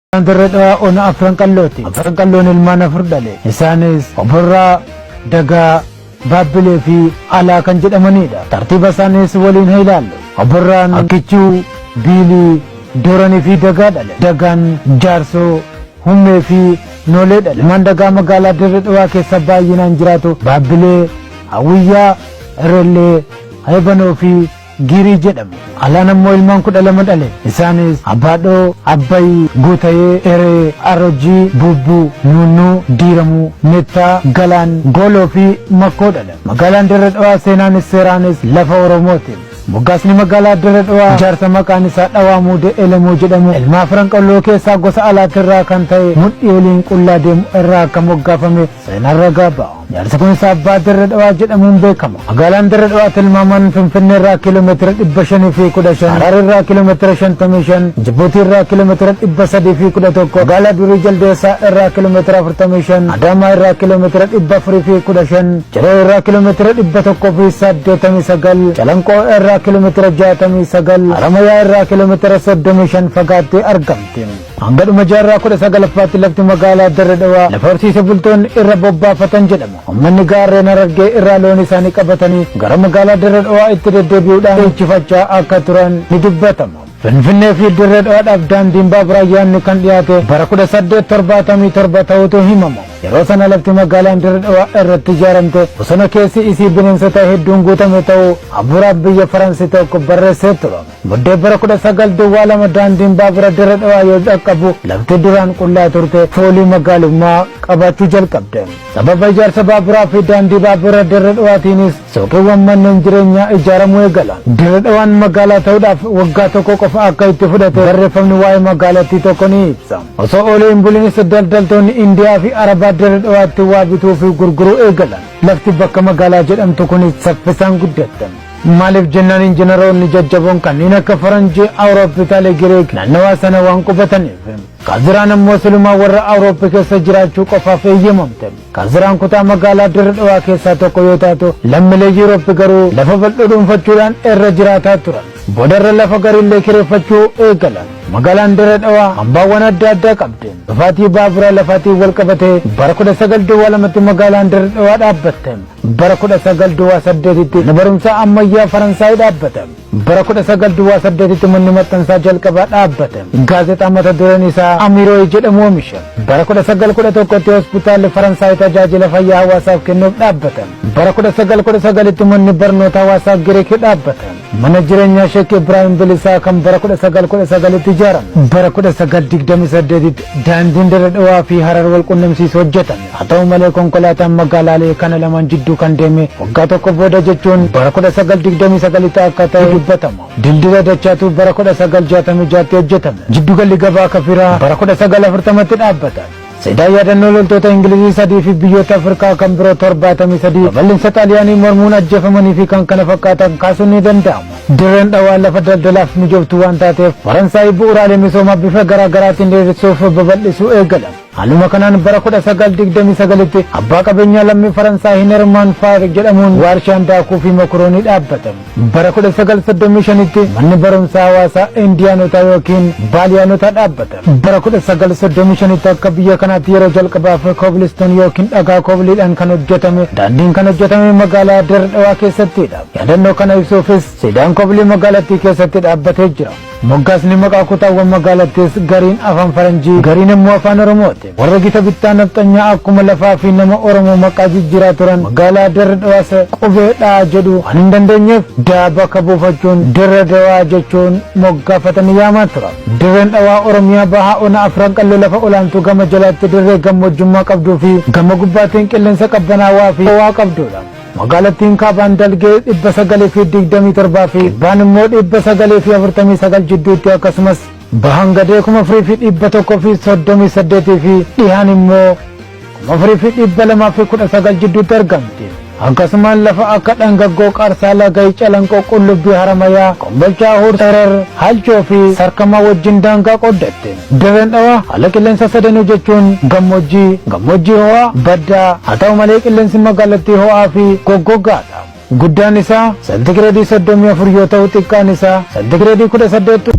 Isaan Dirree Dhawaa Ona Afran Qallooti. Afran Qalloon ilmaan afur dhale. Isaanis Oborraa, Dagaa, Baabbilee fi Alaa kan jedhamanidha. Tartiiba isaaniis waliin haa ilaallu. Oborraan Akkichuu, Biilii, Dooranii fi Dagaa dhale. Dagaan Jaarsoo, Hummee fi Noolee dhale. Ilmaan Dagaa magaalaa Dirree Dhawaa keessa baay'inaan jiraatu. Baabbilee, Hawwiyyaa, Irrellee, Heebanoo fi Giirii jedhamu. Alaan ammoo ilmaan 12 dhale. Isaanis, Abbaadhoo, Abbay, Guutayee, Eree, Arojii, Buubbuu, Nuunnuu, Diiramuu, Mettaa, Galaan, Gooloo fi Makkoo dhalan. Magaalaan Dirre Dhawaa seenaanis seeraanis lafa Oromooti. Moggaasni magaalaa Dirre Dhawaa jaarsa maqaan isaa Dhawaa Muudee Elemoo jedhamu ilmaa Afran Qalloo keessaa gosa Alaatirraa kan ta'e mudhii oliin qullaa deemu irraa akka moggaafame Seenaan ragaa ba'a. Ijaarsi kunis Abbaa Dirre Dhawaa jedhamuun beekama. Magaalaan Dirre Dhawaa tilmaamaan Finfinnee irraa kiiloomeetira dhibba shanii fi kudha shan, Harar irraa kiiloomeetira shantamii shan, Jibuutii irraa kiiloomeetira dhibba sadii fi kudha tokko, magaalaa durii Jaldeessaa irraa kiiloomeetira afurtamii shan, Adaamaa irraa kiiloomeetira dhibba afurii fi kudha shan, Ciroo irraa kiiloomeetira dhibba tokkoo fi saddeetamii sagal, Calanqoo irraa kiiloomeetira jaatamii sagal, Haramayaa irraa kiiloomeetira soddomii shan fagaattee argamti. Hanga dhuma jaarraa kudha sagalaffaatti lafti magaalaa Dirre Dhawaa lafa horsiise bultoonni irra bobbaafatan jedhama. Ummanni gaarreen Harargee irraa loon isaanii qabatanii gara magaalaa Dirre Dhawaa itti deddeebi'uudhaan dhiichifachaa akka turan ni dubbatama. Finfinnee fi Dirre Dhawaadhaaf daandiin baaburaa yaadni kan dhiyaate bara kudha saddeet torbaatamii torba ta'utu himama. Yeroo sana lafti magaalaan Dirre Dhawaa irratti ijaaramte bosona keessi isii bineensota hedduun guutame ta'uu hafuuraaf biyya Faransi tokko barreessee ture. Muddee bara 19 Duwwaa 2 daandiin baabura Dirre Dhawaa yoo dhaqqabu lafti duraan qullaa turte foolii magaalummaa qabaachuu jalqabde. Sababa ijaarsa baaburaa fi daandii baabura Dirre Dhawaatiinis suuqiiwwan manneen jireenyaa ijaaramuu eegalan. Dirre Dhawaan magaalaa ta'uudhaaf waggaa tokko qofa akka itti fudhate barreeffamni waa'ee magaalattii tokko ni ibsa. Osoo oolee hin bulinis daldaltoonni Indiyaa fi Arabaa Dirre Dhawaatti waa bituu fi gurguruu eegalan. Lafti bakka magaalaa jedhamtu kunis saffisaan guddatte. Maaliif jennaan injinaroonni jajjaboon kanneen akka Faranjii Awurooppitaalee Giriik naannawaa sana waan qubataniif. Kaziraan ammoo silumaa warra Awurooppi keessa jiraachuu qofaaf eeyyamamte. Kaziraan kutaa magaalaa Dirre Dhawaa keessaa tokko yoo taatu lammilee Yuurooppi garuu lafa bal'oo dhuunfachuudhaan irra jiraataa turan. Boodarra lafa gariillee kireeffachuu eegalan. Magaalaan Dirre Dhawaa hambaawwan adda addaa qabdi. Dhufaatii baaburaa lafaatiin wal qabatee bara 19 duwwaa lamatti magaalaan Dirre Dhawaa dhaabbatte. Bara 19 Duwwaa 8tti Mana Barumsaa Ammayyaa Faransaay dhaabbata. Bara 19 Duwwaa 8tti Manni Maxxansaa Jalqabaa dhaabbata. Gaazexaa mata dureen isaa Amiroi jedhamu oomisha. Bara 1911tti Hospitaalli Faransaay tajaajila fayyaa hawaasaaf kennuuf dhaabbata. Bara 1919tti Manni Barnoota Hawaasaa Giriik dhaabbata. Mana jireenyaa Sheek Ibraahim Bilisaa kan bara 1919tti ijaarame. Bara 1928tti Daandiin Dirre Dhawaa fi Harar wal qunnamsiisu hojjetame. Haa ta'u malee konkolaataan magaalaalee kana lamaan jidduu kan deeme waggaa tokko booda jechuun bara 1929tti akka ta'e dubbatama. Dildila Dachaatuu bara 1966tti hojjetame. Jiddugalli gabaa Kafiraa bara 1940tti dhaabbata. Siidaa yaadannoo loltoota Ingilizii sadii fi biyyoota Afrikaa kan biroo 73 babal'insa Xaaliyaanii mormuun ajjeefamanii fi kan kana fakkaatan kaasuun ni danda'ama. Dirreen dhawaa lafa daldalaaf mijooftu waan taateef Faransaay bu'uuraalee misoomaa bifa garaa garaatiin diriirsuuf babal'isuu eegalan. Haaluma kanaan bara 1929tti abbaa qabeenyaa lammii Faransaay Hinermaan Faar jedhamuun waarshaan daakuu fi mokoroonii dhaabbate. Bara 1935tti manni barumsaa hawaasaa Indiyaanotaa yookiin Baaliyaanotaa dhaabbate. Bara 1935tti akka biyya kanaatti yeroo jalqabaaf koobilistoon yookiin dhagaa koobiliidhaan kan hojjetame daandiin kan hojjetame magaalaa Dirre Dhawaa keessattidha. Yaadannoo kana ibsuufis siidaan koobilii magaalattii keessatti dhaabbatee jira. Moggaasni maqaa kutaawwan magaalattiis gariin afaan faranjii gariin ammoo afaan oromooti. Warra gita bittaa nafxanyaa akkuma lafaa fi nama oromoo maqaa jijjiiraa turan magaalaa Dirre Dhawaa se qubee dha jedhu waan hin dandeenyeef da bakka buufachuun Dirre Dawaa jechuun moggaafatanii yaamaa turan. Dirreen Dhawaa Oromiyaa bahaa ona afran qalloo lafa olaantuu gama jalaatti dirree gammoojjummaa qabduu fi gama gubbaatiin qilleensa qabbanaawaa fi howaa qabdudha. Magaalattiin kaabaan dalgee 927 fi kibbaan immoo 949 jidduutti akkasumas bahaan gadee 4138 fi dhihaan immoo 4219 jidduutti argamti. Akkasumaan lafa akka dhangaggoo qarsaa lagayi calanqoo qullubbii haramayaa kombolchaa huur tarar halchoo fi sarkamaa wajjin daangaa qooddatte. Dirreen Dhawaa haala qilleensaa sadanuu jechuun gammoojjii, gammoojjii ho'aa, baddaa, haa ta'u malee qilleensi magaalattii ho'aa fi goggoggaa dha. Guddaan isaa seentigireedii 34 yoo ta'u xiqqaan isaa seentigireedii 18.